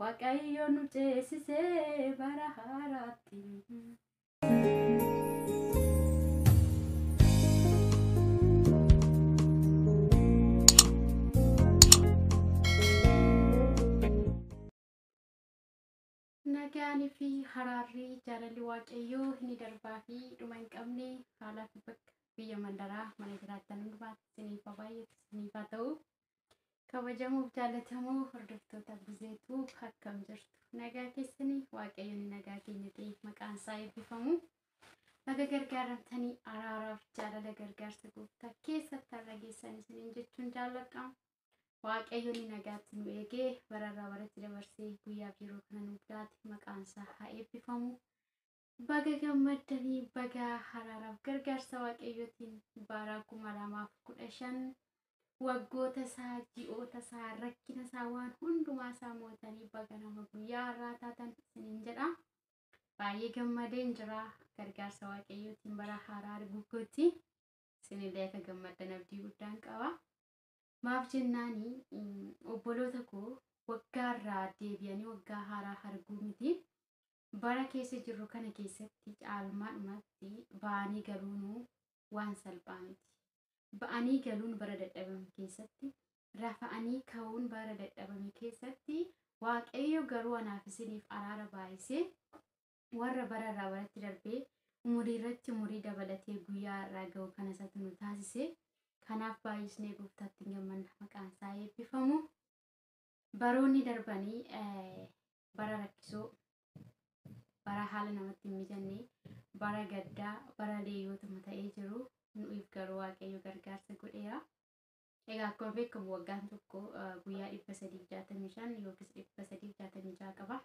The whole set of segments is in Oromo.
Waaqayyo nu ceesisee bara haaraatti. Nagaan fi haraarri jaalalli waaqayyoo inni darbaa fi dhuma hin qabne haalaa fi bakka biyya mandaraa mana jiraattan hundumaatti isiniif haa baay'atu isiniif haa ta'u. Kabajamuuf jaalatamoo hordoftoota buzeetuu akkam jirtu nagaa keessanii waaqayyoon nagaa keenya ta'e maqaan isaa eebbifamu baga gargaaramtanii araaraaf jaalala gargaarsa gooftaa keessatti har'a geessan isiniin jechuun jaalladha waaqayyoon nagaatti nu eegee bararraa baratti dabarsee guyyaaf yeroo kana nuuf laate maqaan isaa haa eebbifamu Baga gammaddani baga haraaraf gargaarsa waaqayyootiin bara 2015 waggoota isaa ji'oota isaa rakkina isaa waan hundumaa isaa mootanii baga nama guyyaa har'aa taatan isiniin jedha baay'ee gammadeen jira gargaarsa waaqayyootiin bara haaraa arguutti isinillee akka gammaddan abdii guddaan qaba maaf jennaani obboloota koo waggaa irraa deebi'anii waggaa haaraa arguu miti Bara keessa jirru kana keessatti caalmaadhumatti ba'anii galuunuu waan salphaa miti. Ba'anii galuun bara dadhabame keessatti, rafa'anii ka'uun bara dadhabame keessatti Waaqayyo garuu anaaf isiniif araara baay'isee warra bara irraa baratti darbee umurii irratti umurii dabalatee guyyaa har'aa ga'u kana isatu nu taasise. Kanaaf baay'isnee gooftaatti hin gammanna maqaan isaa eebbifamu. Baroonni darbanii bara rakkisoo bara haala namatti hin mijanne bara gaddaa bara leeyyootuma ta'ee jiru nu'if garuu waaqayyo gargaarsa godheera. Egaa akkuma beekamu waggaan tokko guyyaa 365 yookiis 366 qaba.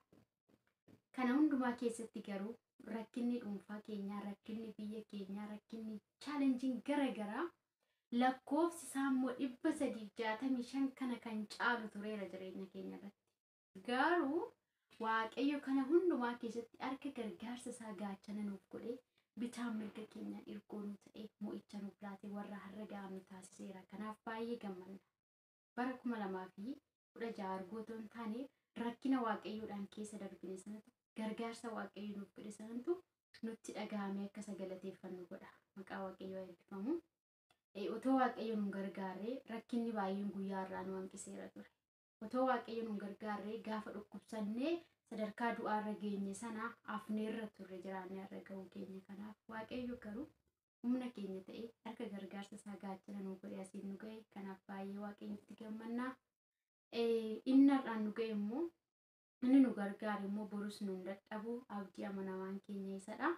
Kana hundumaa keessatti garuu rakkinni dhuunfaa keenyaa, rakkinni biyya keenyaa, rakkinni chaalenjiin gara garaa lakkoofsi isaa immoo 365 kana kan caalu tureera jireenya keenya irratti. Garuu Waaqayyo kana hundumaa keessatti harka gargaarsa isaa gaachana nuuf godhee bitaa mirga keenyaan irkoo nu ta'ee mo'icha nuuf laatee warra har'a ga'amnu taasiseera. Kanaaf baay'ee gammanna. Bara kuma lamaa fi kudha ja'a arguu otoo hin taane rakkina Waaqayyoodhaan keessa darbine sanatu gargaarsa Waaqayyo nuuf godhe sanatu nutti dhaga'amee akka isa galateeffannu godha. Maqaa Waaqayyoo haa eebbifamu. Eh, Otoo Waaqayyo nu hin gargaarre rakkinni baay'een guyyaa har'aa nu hanqiseera ture. otoo waaqayyo nun gargaarree gaafa dhukkubsannee sadarkaa du'aarra geenye sana afneerra turre jiraannee irra ga'uu keenya kanaaf waaqayyo garuu humna keenya ta'e harka gargaarsa isaa gaachana nu godhe asiin nu ga'e kanaaf baay'ee waaqayyotti gammannaa inni har'aan nu ga'e immoo Inni nu gargaare immoo borus nu hin dadhabu. Abdii amanamaan keenya isa dha.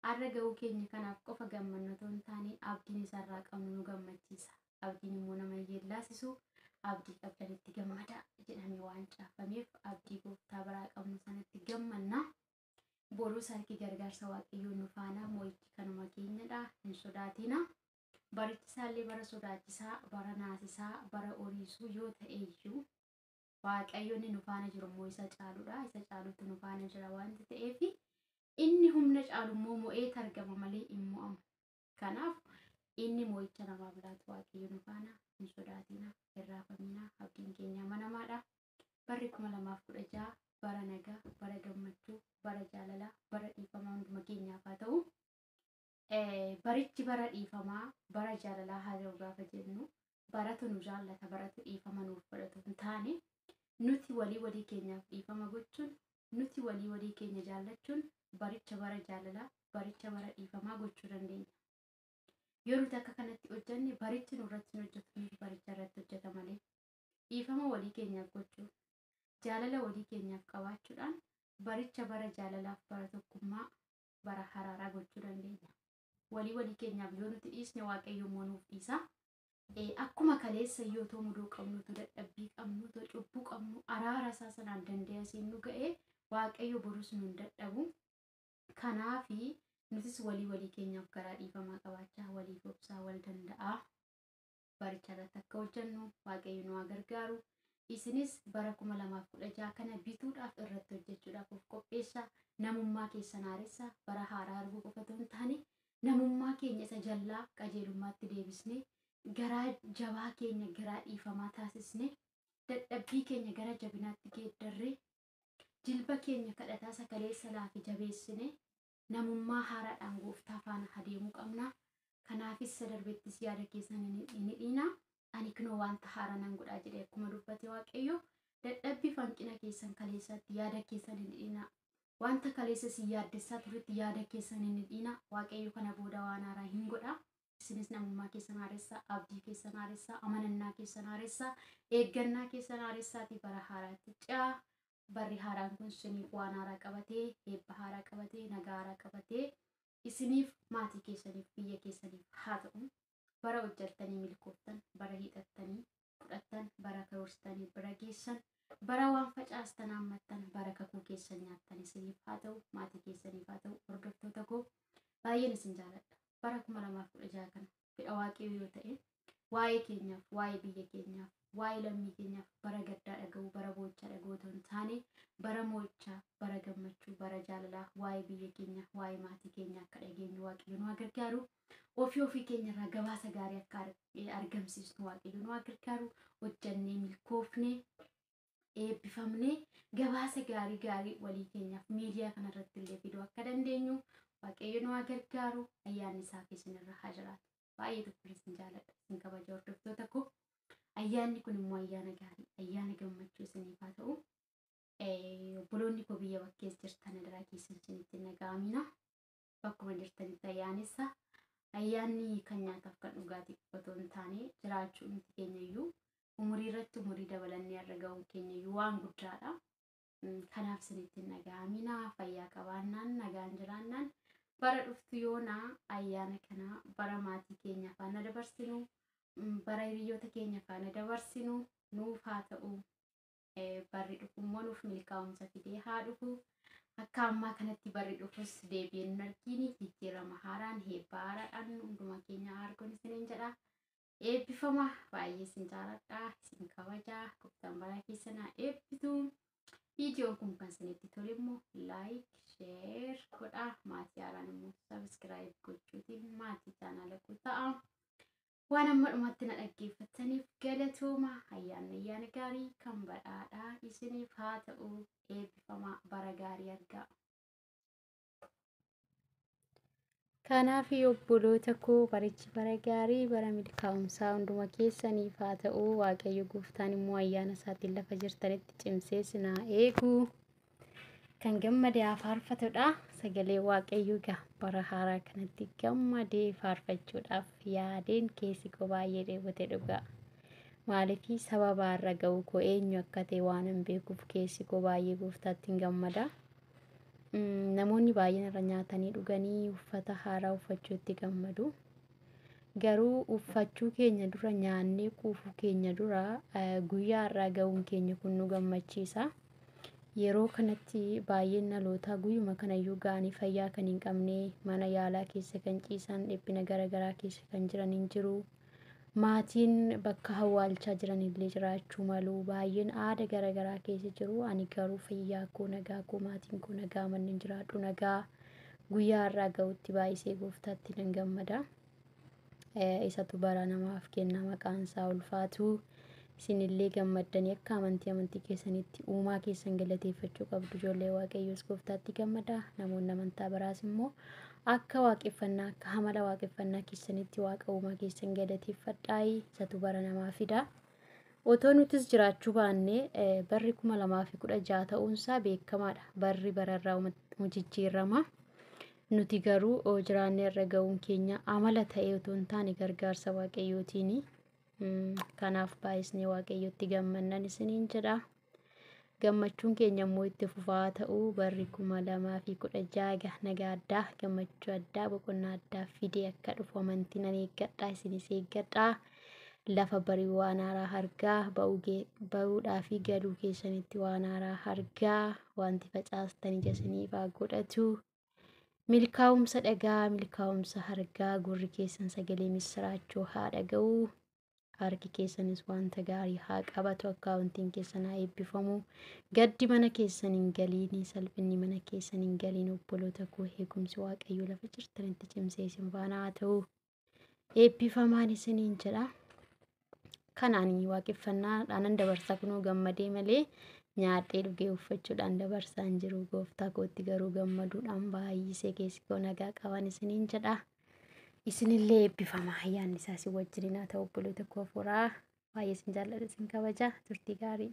Har'a ga'uu keenya kanaaf qofa gammanna otoo hin taane abdiin isa irraa qabnu nu gammachiisa. Abdiin immoo nama hin yeellaasisu. Abdii qabdanitti gammadaa jedhamee waan caafameef abdii gooftaa biraa qabnu sanatti gammanna. Borus harki gargaarsa waaqayyoo nu faana mo'ichi kanuma keenyadha. Hin sodaatina. Barichi isaallee bara sodaachisaa, bara naasisaa, bara oriisuu yoo ta'e iyyuu waaqayyo inni nu faana jiru immoo isa caaludha isa caalutu nu faana jira wanti ta'eef inni humna caalu immoo mo'eet argama malee hin mo'amu kanaaf inni mo'icha namaaf laatu waaqayyo nu faana hin sodaatiina hin raafamiina abdiin keenya amanamaadha barri kuma lamaaf kudha ja'a bara nagaa bara gammachuu bara jaalalaa bara dhiifama hunduma keenyaaf haa ta'u Barichi bara dhiifamaa, bara jaalalaa haa ta'u gaafa jennu baratu nu jaallata, baratu dhiifama nuuf godhatu hin taane nuti walii walii keenyaaf dhiifama gochuun, nuti walii walii keenya jaallachuun baricha bara jaalalaa, baricha bara dhiifamaa gochuu dandeenya. Yoo nuti akka kanatti hojjenne barichi nurratti hin hojjetu, nuti baricha irratti hojjeta malee. Dhiifama walii keenyaaf gochuu, jaalala walii keenyaaf qabaachuudhaan baricha bara jaalalaaf bara tokkummaa bara haraaraa gochuu dandeenya. Walii walii keenyaaf yoo nuti dhiisne waaqayyo immoo nuuf dhiisa. Eh, Akkuma kaleessa yoo too mudoo qabnu, too dadhabbii qabnu, too cubbuu qabnu, araara isaa sanaan danda'e asiin nu ga'e waaqayyo borus nu hin dadhabu. Kanaafi nutis walii walii keenyaaf garaa dhiifamaa qabaachaa waliif obsaa wal danda'aa. baricha irratti akka hojjennu waaqayyo nu haa gargaaru. Isinis bara 2016 kana bituudhaaf irratti hojjechuudhaaf of qopheessa. Namummaa keessan haaressa bara haaraa arguu qofa otoo hin taane namummaa keenya isa jallaa qajeelummaatti deebisnee garaa jabaa keenya garaa dhiifamaa taasisnee dadhabbii keenya gara jabinaatti geeddarree jilba keenya kadhataa sakaleessa laafi jabeessinee Namummaa haaraadhaan Gooftaa faana haa deemuu qabna. Kanaafis isa darbettis yaada keessan hin hidhiinaa. Ani kunoo wanta haaraa nan godha jedhee akkuma dubbate Waaqayyo, dadhabbii fi hanqina keessan kaleessaatti yaada keessan hin hidhiinaa. Wanta kaleessa isin yaaddessaa turetti yaada keessan hin hidhiinaa. Waaqayyo kana booda waan haaraa hin godha. Isinis namummaa keessan haaressaa, abdii keessan haaressaa, amanannaa keessan haaressaa, eeggannaa keessan haaressaatii bara haaraatti ce'aa. barri haaraan kun isiniif waan haaraa qabatee, eebba haaraa qabatee, nagaa haaraa qabatee isiniif, maatii keessaniif, biyya keessaniif haa ta'u. Bara hojjattanii milkooftan, bara hiixattanii fudhattan, bara karoorsitanii bira geessan, bara waan facaastan haammattan, bara kakuu keessan nyaattan isiniif haa ta'u, maatii keessaniif haa ta'u. Hordoftoota koo baay'een isin jaaladha. Bara 2016 kana fedha waaqayyoo yoo ta'e waa'ee keenyaaf waa'ee biyya keenyaaf waa'ee lammii keenyaaf bara gaddaa dhaga'uu bara boo'ichaa dhaga'uu otoo hin taane bara mo'ichaa bara gammachuu bara jaalalaa waa'ee biyya keenya waa'ee maatii keenya akka dhageenyu waaqayyo nu gargaaru ofii ofii keenya irraa gabaasa gaarii akka argamsiisnu waaqayyo nu gargaaru hojjannee milkoofne eebbifamne gabaasa gaarii gaarii walii keenyaaf miidiyaa kanarratti illee fiduu akka dandeenyu waaqayyo nu haa gargaaru ayyaanni isaa fi isinirra haa jiraatu. Baay'ee tokko isin jaaladha isin kabaja hordoftoota koo. Ayyaanni kun immoo ayyaana gaarii ayyaana gammachuu isiniif haa ta'u. Obboloonni koo biyya bakkees jirtan adaraa keessan isinitti hin dhaga'amina. bakkuma jirtanitti ayyaanessa. Ayyaanni kan nyaataaf kan dhugaatii qofa otoo hin taane jiraachuu nuti keenya iyyuu umurii irratti umurii dabalannee irra ga'uun keenya iyyuu waan guddaadha. Mm, Kanaaf isinitti hin dhaga'amina fayyaa qabaannaan nagaan jiraannaan bara dhuftu yoona ayyaana kana bara maatii keenya faana dabarsinu mm, bara hiriyoota keenya faana dabarsinu nuuf haa ta'u. barri dhufu immoo nuuf milkaa'umsa fidee haa dhufu. Akka ammaa kanatti barri dhufus deebi'een hin argiini jijjiirama haaraan heebbaa haaraadhaan hunduma keenya argoon isiniin jedha. Eebbifama baay'ee isin jaaladha isin kabaja gooftaan bara keessan haa eebbisu. Viidiyoon kun kan isinitti tole immoo laayik sheer godhaa maatii haaraan immoo sabiskiraayib gochuutiin maatii chaanaala koo ta'aa. Waan amma dhumatti na dhaggeeffattaniif galatooma ayyaanni ayyaana gaarii kan badhaadhaa isiniif haa ta'u eebbifamaa bara gaarii argaa. Kanaaf obboloota koo barichi bara gaarii bara milkaa'umsaa hunduma keessaniif haa ta'u waaqayyo gooftaan immoo ayyaana isaatiin lafa jirtanitti cimsee sinaa eegu. kan gammade haa faarfatudha. Sagalee waaqayyoo egaa bara haaraa kanatti gammadee faarfachuudhaaf yaadeen keessi koo baay'ee dheebote dhugaa. Maaliif sababa irra ga'uu koo eenyu akka ta'e waan hin beekuuf keessi koo baay'ee gooftaatti hin gammada. Mm, Namoonni baay'een irra nyaatanii dhuganii uffata haaraa uffachuutti gammadu. Garuu uffachuu keenya dura nyaannee quufuu keenya dura eh, guyyaa irraa ga'uun keenya kun nu gammachiisa. Yeroo kanatti baay'een dhalootaa guyyuma kanayyuu ga'anii fayyaa kan hin qabne, mana yaalaa keessa kan ciisan, dhiphina gara garaa keessa kan jiran hin jiru. Maatiin bakka hawwaalchaa jiran illee jiraachuu malu. Baay'een aada gara garaa keessa jiru. Ani garuu fayyaa koo nagaa koo maatiin koo nagaa manneen jiraadhu nagaa guyyaa har'aa ga'utti baay'isee gooftaatti nan gammada. isatu bara namaaf kenna maqaan isaa ulfaatu isinillee gammaddanii akka amantii amantii keessanitti uumaa keessan galateeffachuu qabdu ijoollee waaqayyoos gooftaatti gammada namoonni amantaa biraas immoo akka waaqeffannaa akka hamala waaqeffannaa keessanitti waaqa uumaa keessan galateeffadhaayi isatu bara namaa fida. Otoo nutis jiraachuu baannee eh, barri kuma lamaa fi kudha jaha ta'uunsaa beekamaadha. Barri bararraa jijjiirama. Nuti garuu oo, jiraannee irra ga'uun keenya amala ta'ee utuu hin taane gargaarsa waaqayyootiini. Mm, Kanaaf baay'isnee waaqayyotti gammannan isiniin jedha. Gammachuun keenya immoo itti fufaa ta'uu barri kuma lamaa fi kudha jaha nagaa addaa gammachuu addaa boqonnaa addaa fidee akka dhufu amantii nan eeggadha isinis eeggadha. Lafa barii waan haaraa argaa ba'uu gee- ba'uudhaa fi galuu keessanitti waan haaraa argaa wanti facaastan ija isiniif haa godhatu. Milkaa'umsa dhagaa, milkaa'umsa hargaa, gurri keessan sagalee misiraachoo haa dhaga'u. Harki keessanis wanta gaarii haa qabatu, akkaawuntiin keessan haa eebbifamu. Gaddi mana keessan hin galiin, salphinni mana keessan hin galiin. Obboloota koo eegumsi Waaqayyoo lafa jirtanitti cimsee isin faana haa ta'u. eebbifamaan isiniin jedha. Kanaan waaqeffannaadhaanan dabarsa kunoo gammadee malee nyaadhee dhugee uffachuudhaan dabarsaa hin jiru. Gooftaa kootti garuu gammaduudhaan baay'isee keessi koo nagaa qaban isiniin jedha. Isinillee eebbifama ayyaanni isaa isin wajjin haa ta'u obboloota koo hafuuraa baay'ee isin jaalladha isin kabaja turtii gaarii.